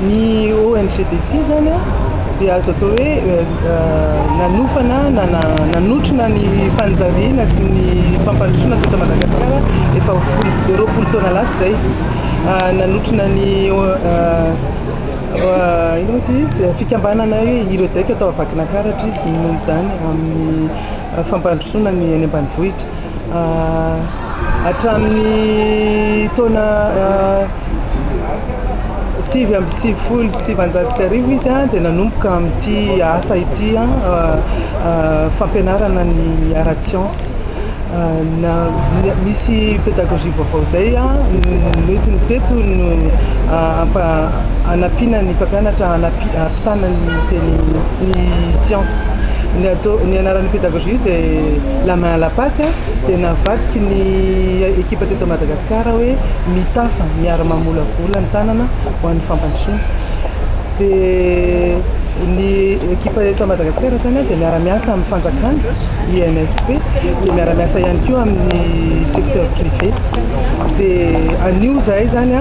Ny ONGDT izany dia azo atao hoe nanofana na nanotrona ny fanjariana sy ny fampandrosoana teto Madagasikara efa ho roapolo taona lasa izay. Nanotrona ny inona moa ity izy, fikambanana hoe Iredec tao Vakinankaratra izy noho izany amin'ny fampandrosoana ny any ambanivohitra. Hatramin'ny taona sivy amby sivifolo sy sivinjato sy arivo izy dia nanomboka amin'ity asa ity fampianarana ny ara-tsiansa. Nisy pédagogie vaovao izay nentiny teto no hanampiana ny mpampianatra hampitana ny teny ny tsiansa. Ny atao ny anaran'ny pédagogie Juive et la main à la pate dia navadiky ny ekipa teto Madagasikara hoe mitafa miara-mamolavola ny tanana ho an'ny fampandrosoana. Dia ny ekipa eto Madagasikara izany dia miara-miasa amin'ny fanjakana, INFP, dia miara-miasa ihany koa amin'ny secteur privé. Dia anio izahay izany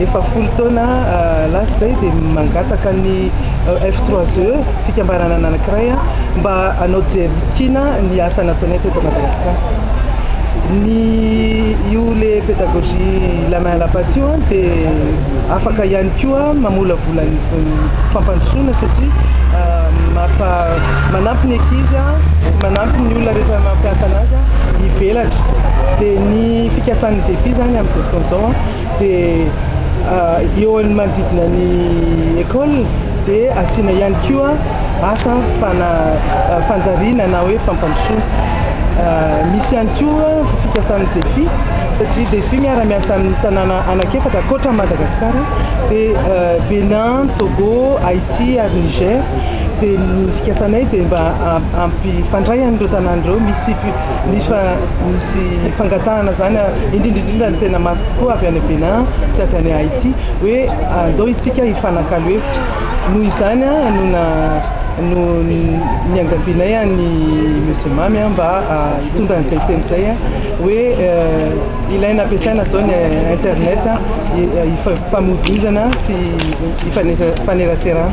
efa folo taona lasa izay dia mangataka ny F3E. fikambanana anankiray mba hanao jery kina ny asa nataonay teto Madagasikara. Ny io le pédagogie la main à la pâte io dia afaka ihany koa mamolavola ny fampandrosoana satria mampa manampy ny ankizy manampy ny olona rehetra mampiasa anazy hivelatra dia ny fikasan'ny defi izany amin'izao fotoana izao Dia eo amin'ny manodidina ny ecole dia asiana ihany koa asa fana fanjariana na hoe fampandrosoana. Misy ihany koa fikasan'ny defi satria defi miara miasa amin'ny tanàna anaky efatra ankoatra Madagasikara dia Bénin, Togo, Haïti ary Niger dia ny fikasanay dia mba hampifandray an'ireo tanàna ireo misy Nisy fa nisy fangatahana izany indrindra indrindra ny tena mafy kokoa avy any Bénin sy avy any Haïti hoe andao isika hifanakalo hevitra. Noho izany no na no niangalianay an'i Monsieur Mamy mba hitondra an'izay teny izay hoe ilaina ampiasaina izao ny internet hifamoivoizana sy hifaneraserana.